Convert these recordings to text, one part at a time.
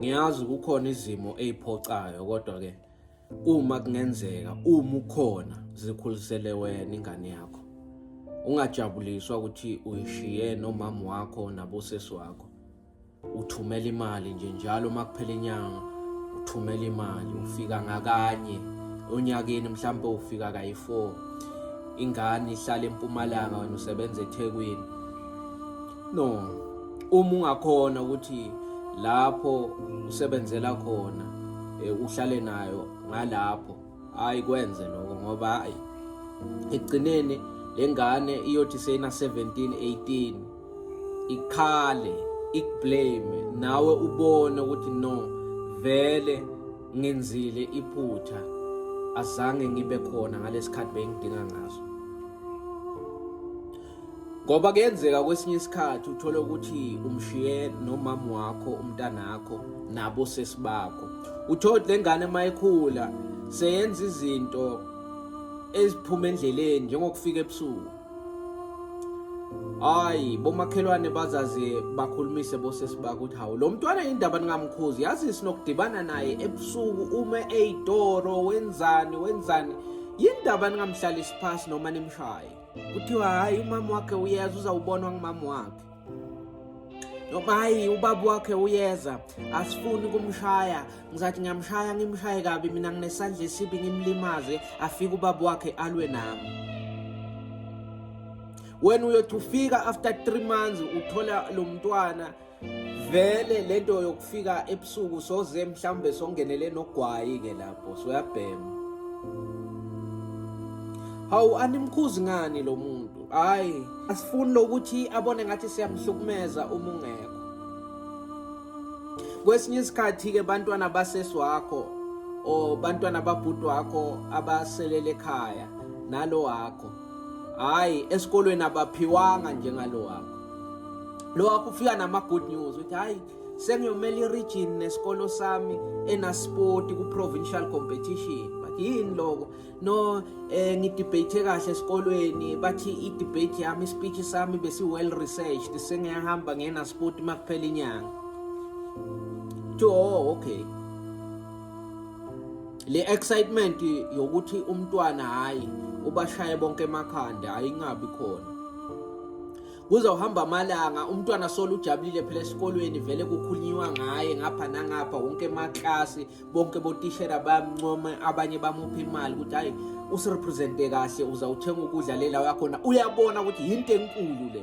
Ngiyazi kukhona izimo eziphocayo kodwa ke uma kungenzeka uma ukhona zikhulisele wena ingane yakho. Ungajabuliswa ukuthi uyishiye nomama wakho nabosesi wakho. Uthumela imali nje njalo uma kuphela inyanga uthumela imali ufika ngakanye onyakeni mhlawumbe ufika kayi-4 ingane ihlala empumalanga wena usebenza ethekwini no uma ungakhona ukuthi lapho usebenzela khona eh, uhlale nayo ngalapho hayi kwenze lokho ngoba hayi ekugcineni lengane iyothi seyina 17 18 ikhale ikublame nawe ubone ukuthi no vele ngenzile iphutha azange ngibe khona ngalesikhathi bengidinga ngaso ngoba kuyenzeka kwesinye isikhathi uthole ukuthi umshiye nomama wakho umntanakho nabo sesibakho uthole le ngane mayikhula seyenza izinto eziphuma endleleni njengokufika ebusuku hayi bomakhelwane bazaze bakhulumise bosesibaka ukuthi hawu lo mntwana yindaba ningamkhuzi yazi sinokudibana naye ebusuku uma eyitoro wenzani wenzani yindaba ningamhlalisi phasi noma nimshaye kuthiwa hayi umama wakhe uyeza uzawubonwa ngumama wakhe noma hayi ubaba wakhe uyeza asifuni kumshaya ngizathi ngiyamshaya ngimshaye kabi mina nginesandla esibi ngimlimaze afike ubaba wakhe alwe nami wena uyothi ufika after three months uthola lo mntwana vele lento yokufika ebusuku soze mhlawumbe songenele nogwayi ke lapho soyabhema hawu animkhuzi ngani lo muntu hayi asifuni lokuthi abone ngathi siyamhlukumeza uma ungekho kwesinye isikhathi-ke bantwana basesi wakho or bantwana babhuti wakho abaselele ekhaya nalo wakho hayi esikolweni abaphiwanga njengalo wakho lo wakho ufika nama-good news ukuthi hhayi sengiyomela i-region nesikolo sami enaspoti ku-provincial competition but yini loko no um eh, ngidebate kahle esikolweni bathi i-debate yami ispeech sami besi-well researched sengiyahamba ngenaspoti uma kuphela inyanga to oh okay le excitement yokuthi umntwana hayi ubashaye bonke emakhanda ayingabi khona kuzawuhamba amalanga umntwana solo ujabulile phela esikolweni vele kukhulunyiwa ngaye ngapha nangapha wonke emaklasi bonke botishera bayamuncoma abanye bamupha imali ukuthi hayi usirepresente kahle uzawuthenga ukudla le lawo yakhona uyabona ukuthi yinto enkulu le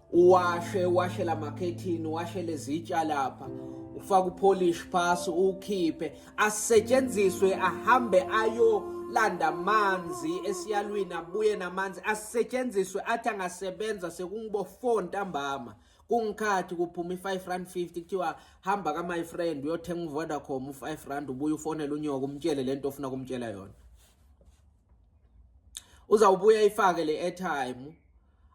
uwashe uwashe la makhethini uwashe lezitsha lapha ufake upolish phasi uwukhiphe asetshenziswe ahambe ayolanda amanzi esiyalwini abuye namanzi asetshenziswe athi angasebenza sekungibo 4 ntambama kungikhathi kuphuma i-5 rand 50 kuthiwa hamba ka my friend uyothenga uvodacom u-5 rand ubuye ufonele unyoka umtshele le nto ofuna kumtshela yona uzawubuya ifake le airtime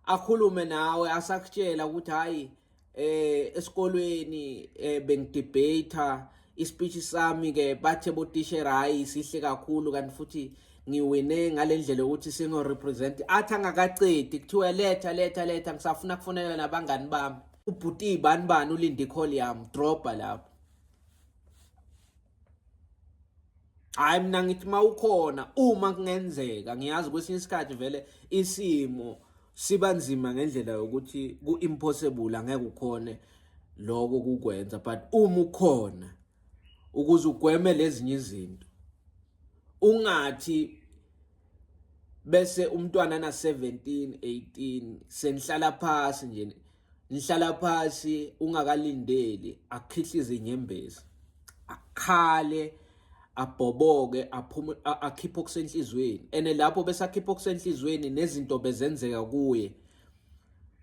akhulume nawe asakutshela ukuthi hayi eh esikolweni eh, bengidebate ispeech sami ke bathe botishera hayi sihle kakhulu kanti futhi ngiwine ngalendlela ukuthi singo represent athi angakacedi kuthiwa letha letha letha ngisafuna kufonela nabangani bami ubhuti ibani bani ulinde icall yami dropper lapho hayi mina ngithi uma ukhona uma kungenzeka ngiyazi kwesinye isikhathi vele isimo siba nzima ngendlela yokuthi ku-impossible angeke ukhone lokho kukwenza but uma ukhona ukuze ugweme lezinye izinto ungathi bese umntwana na 17 18 senihlala phansi nje Nihlala phasi ungakalindeli akhihlize inyembezi. Akhale abhoboke aphume akhiphe okusenhlizweni. Ene lapho bese akhipha okusenhlizweni nezinto bezenzeka kuye.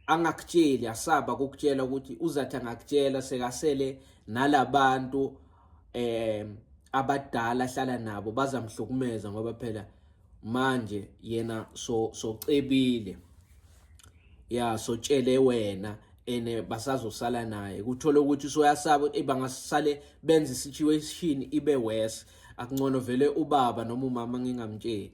Angakutsheli asaba ukukutshela ukuthi uzathi angakutshela sekasele nalabantu eh abadala ahlala nabo bazamhlukumeza ngoba phela manje yena so socebile ya sotshele wena ene basazosala naye kuthola ukuthi soyasaba ukuthi bangasale benza situation ibe worse akuncono vele ubaba noma umama ngingamtsheli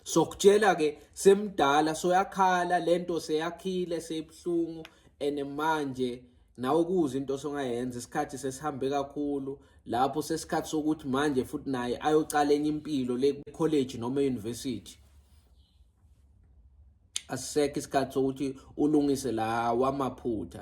sokutshela ke semdala soyakhala lento seyakhile seyibuhlungu ene manje nawe kuze into osongayenza isikhathi sesihambe kakhulu lapho sesikhathi sokuthi manje futhi naye ayocala enye impilo le college noma university asisekho isikhathi sokuthi ulungise la wamaphutha